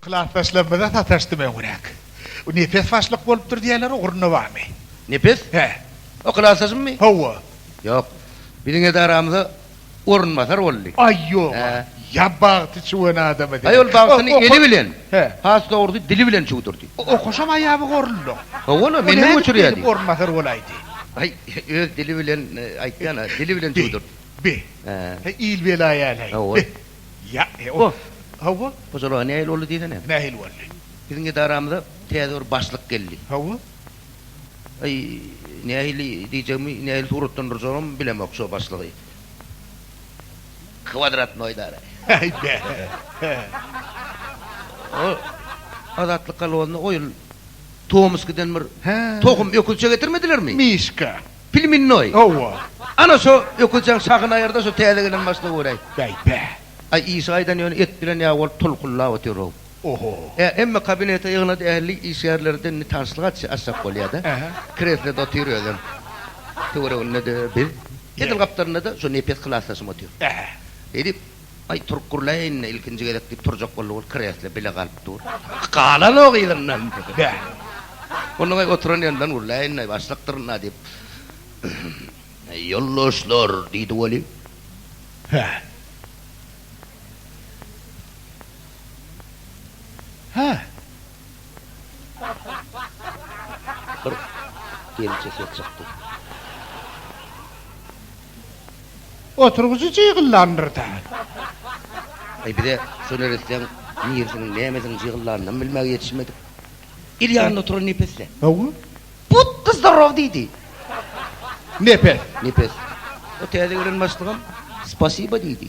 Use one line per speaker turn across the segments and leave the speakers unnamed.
Klasdaşlarymyza sataşdym öňräk. Bu Nepes başlyk bolupdyr diýýärler, ugrunda barmy? Nepes? Hä.
O
klasdaşymmy?
Hawa. Ýok. Biziň edaramyza orunbasar boldy. Aý, ýog-a.
Ýa
bagty
çüwen adamy seniň. Aý, ol bagtyny eli
bilen, has dogrusy,
dili bilen
çüwdürdi. Okaşam aýaby
goruldy. Hawa-la, menden
göçürýärdi. Nädip orunbasar bolaýdy?
Aý, öz
dili bilen aýtýan-a, dili bilen çüwdürdi. Bi.
Hä, il
bela ýaly.
Hawa.
Ýa, e,
o,
hawa. Hojalyga
nähili boldy
diýsene? Nähili boldy?
Biziň edaramyza
täze bir başlyk geldi. Hawa. Aý, nähili diýjegimi, nähili suratlandyrjagym bilemok şo başlygy. Kwadratnoý edara. Aý, bä. O Azatlyk kolhozyna oýun Tomskiden bir tohum öküzçe
getirmedilermi?
Mişka.
Plmennoý.
Hawa. Ana
şo
öküzjeň şahyny aýyrda şo täze gelen maşyna göräý. Bäý bä.
Aý işi gaýdan
ýöne et bilen ýaly bolup tulkulap otyr-ow. Oho. Ä
emme kabinete
ýygnady ähli işgärlerden ni tanşlyk açy açjak bolýa-da. Ähä. Kreslede
otyr özem.
Töwereginde-de biz. Edil gapdalynda-da şo nepes klasdaşym otyr. Ähä. Beýdip. Aý, turup gurlaý indi, ilkinji gezek, diýip turjak boldy, ol kresle bile galyp dur. Galan-ow yzyndan, bä. Onnoň-aý oturan ýerinden gurlaý indi, başlykdyryn-a, diýip. Ýoldaşlar, diýdi Weli. Hä.
Hä.
Bir gelje ses çykdy.
Oturgyjy jygyllandyr-da.
Aý, biz-ä şo neressäň nirisiniň, nämesiniň jygyllandym bilmäge ýetişmedik. Il ýanynda oturan Nepes-le. Hawa.
Butda
zdarow diýdi.
Nepes. Nepes.
O täze gelen başlygam Spasiba diýdi.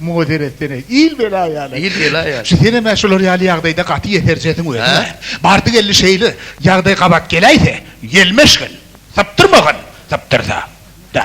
Muňa seretsene, il bela ýaly. Il bela ýaly. Şu senem-ä
şular ýaly
ýagdaýda gaty ýeserjesiň özüň-ä. Bardy-geldi şeýle ýagdaý gabat geläýse, ýelmeşgin, sypdyrmagyn, sypdyrsa-da.